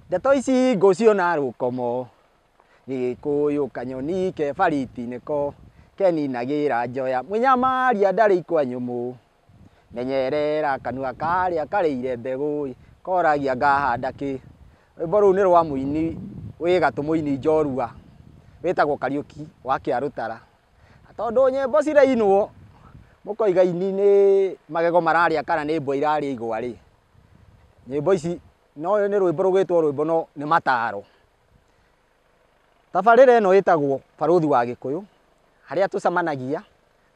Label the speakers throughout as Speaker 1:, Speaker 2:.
Speaker 1: Ndeto ici ngũciona rũkomo gĩgĩkũyũ kanyoni ke bariti nĩko keninagĩra njoya mũnyamaria ndarĩ ikwa nyũmũ menyerera kanua karĩa karĩire mbegũ koragia ngahanda kĩ. Rwĩmbo rũu nĩ rwa mũini wĩ gatũ mũini njorua wĩtagwo Kariũki wa Kĩarũtara. Tondũ nyĩmbo cirainwo, mũkoiga aini nĩ magego mararĩa kana nĩ mbwa irarĩa igwa rĩ, nyĩmbo ici, no ũyũ nĩ rwĩmbo rũgĩtwo rwĩmbo no nĩ mataro. Tabarĩra ĩno ĩtagwo Barũthi wa Gĩkũyũ, harĩa tũcemanagia,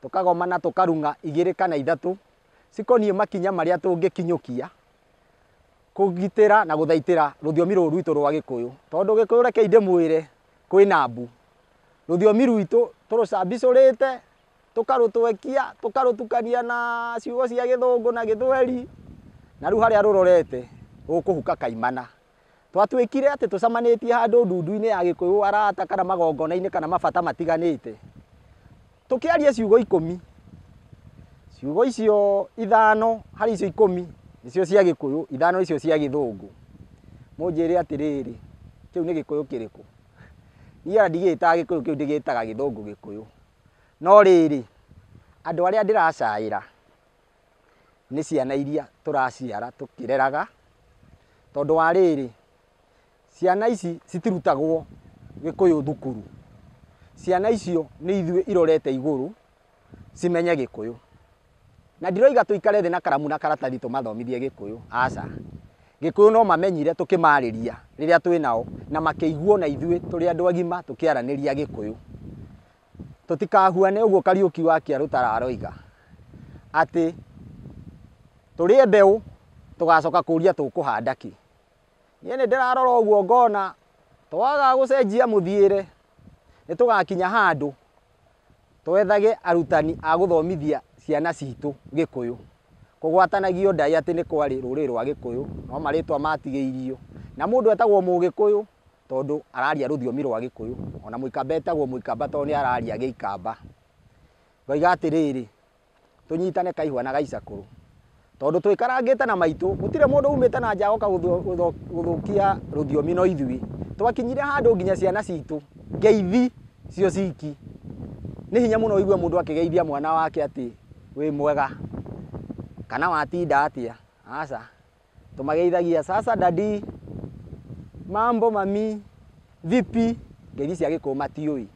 Speaker 1: tũkagomana, tũkarung'a igĩrĩ kana ithatũ, cikoniĩ makinya marĩa tũngĩkinyũkia, kũgitĩra na gũthaitĩra rũthiomi rũrũ rwitũ rwa Gĩkũyũ. Tondũ Gĩkũyũ reke ndĩmwĩre, kwĩna mbu. Rũthiomi rwitũ tũrũcabicũrĩte, tũkarũtwekia, tũkarũtukania na ciugo cia gĩthũngũ na gĩthweri, na rĩu harĩa rũrorete rũkũhuka kaimana. Twatuĩkire atĩ tũcamanĩtie handũ ndundu-inĩ ya gĩkũyũ arata kana magongona-inĩ kana mabata matiganĩte. Tũkĩaria ciugo ikũmi, ciugo icio ithano harĩ icio ikũmi nĩcio cia Gĩkũyũ, ithano icio cia Gĩthũngũ. Mũnjĩre atĩrĩrĩ, kĩu nĩ Gĩkũyũ kĩrĩkũ? Niĩ ona ndigĩtaga Gĩkũyũ kĩu, ndĩgĩtaga Gĩthũngũ Gĩkũyũ. No rĩrĩ, andũ arĩa ndĩracaĩra nĩ ciana iria tũraciara tũkĩreraga, tondũ wa rĩrĩ, Ciana ici citirutagwo Gĩkũyũ thukuru. Ciana icio nĩ ithuĩ irorete igũrũ cimenye Gĩkũyũ. Na ndiroiga tũikare thĩ na karamu na karatathi tũmathomithie Gĩkũyũ, aca. Gĩkũyũ no mamenyire tũkĩmarĩria rĩrĩa twĩ nao na makĩigua o na ithuĩ tũrĩ andũ agima tũkĩaranĩria Gĩkũyũ. Tũtikahuane ũguo Kariũki wa Kĩarũtara aroiga atĩ tũrĩe mbeũ tũgacoka kũria tũkũhanda kĩ. Niĩ nĩ ndĩrarora ũguo ngona twaga gũcenjia mũthiĩre nĩ tũgakinya handũ twethage arutani a gũthomithia ciana citũ Gĩkũyũ. Kũgwatanagio Ndai atĩ nĩ kwarĩ rũrĩrĩ rwa Gĩkũyũ no marĩtwa matigĩirio. Na mũndũ etagwo Mũgĩkũyũ tondũ araria rũthiomi rwa Gĩkũyũ, ona Mũikamba etagwo Mũikamba tondũ nĩ araria Gĩikamba. Ngoiga atĩrĩrĩ, tũnyitane kaihwa na gaicakũrũ tondũ twĩkarangĩte na maitũ gũtirĩ mũndũ umĩte na nja oka gũthũkia rũthiomi no ithuĩ twakinyire handũ nginya ciana citũ ngeithi cio ciki nĩ hinya mũno ũigue mũndũ akĩgeithia mwana wake atĩ wĩ mwega kana watinda atĩa aca Tũmageithagia, Sasa daddy, Mambo mami, Vipi, ngeithi cia gĩkũyũ matiũĩ.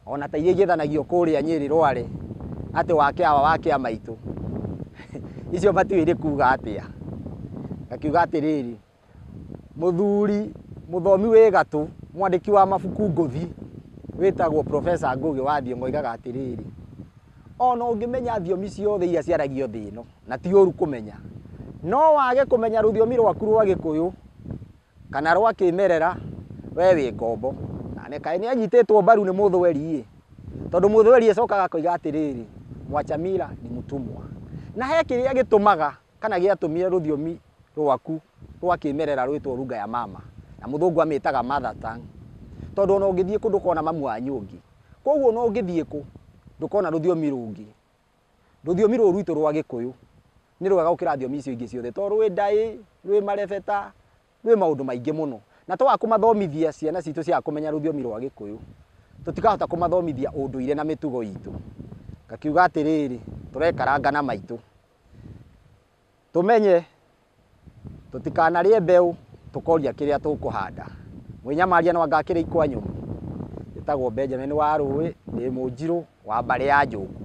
Speaker 1: O na ta iria igĩthanagio kũrĩa Nyĩrĩ Rware, atĩ wake awa wake a maitũ. Icio matiũĩ irĩ kuuga atĩa. Ngakiuga atĩrĩrĩ, mũthuri mũthomi wĩ gatũ, mwandĩki wa mabuku ngũthi, wĩtagwo Professor Ngũgĩ wa Thiong'o oigaga atĩrĩrĩ, O na ũngĩmenya thiomi ciothe iria ciaragio thĩ ĩno, na ti ũũru kũmenya. No wage kũmenya rũthiomi rwaku rwa Gĩkũyũ kana rwa kĩmerera, we wĩ ngombo. Na nĩ kaĩ nĩ anyitĩtwo mbaru nĩ mũthweri-ĩ. Tondũ mũthweri acokaga akoiga atĩrĩrĩ, Mwachamila ni mtumwa. Na he kĩrĩa gĩtũmaga kana gĩatũmire rũthiomi rwaku rwa kĩmerera rwĩtwo Lugha ya Mama, na mũthũngũ amĩtaga mother tongue. Tondũ ona ũngĩthiĩ kũ ndũkona mamu wa nyũngĩ. Kwoguo ona ũngĩthiĩ kũ, ndũkona rũthiomi rũngĩ Rũthiomi rũrũ rwitũ rwa Gĩkũyũ nĩ rwega gũkĩra thiomi icio ingĩ ciothe tondũ rwĩ ndaĩ, rwĩ marebeta, rwĩ maũndũ maingĩ mũno. Na twaga kũmathomithia ciana citũ ciaga kũmenya rũthiomi rwa Gĩkũyũ, tũtikahota kũmathomithia ũndũire na mĩtugo itũ. Ngakiuga atĩrĩrĩ, tũrekaranga na maitũ. Tũmenye, tũtikanarĩe mbeũ tũkoria kĩrĩa tũkũhanda. Mwĩnyamaria no anga akĩrĩ ikwanyũmũ? Njĩtagwo Benjamin wa Rũĩ, ndĩ Mũnjirũ wa mbarĩ ya Njũng'wa.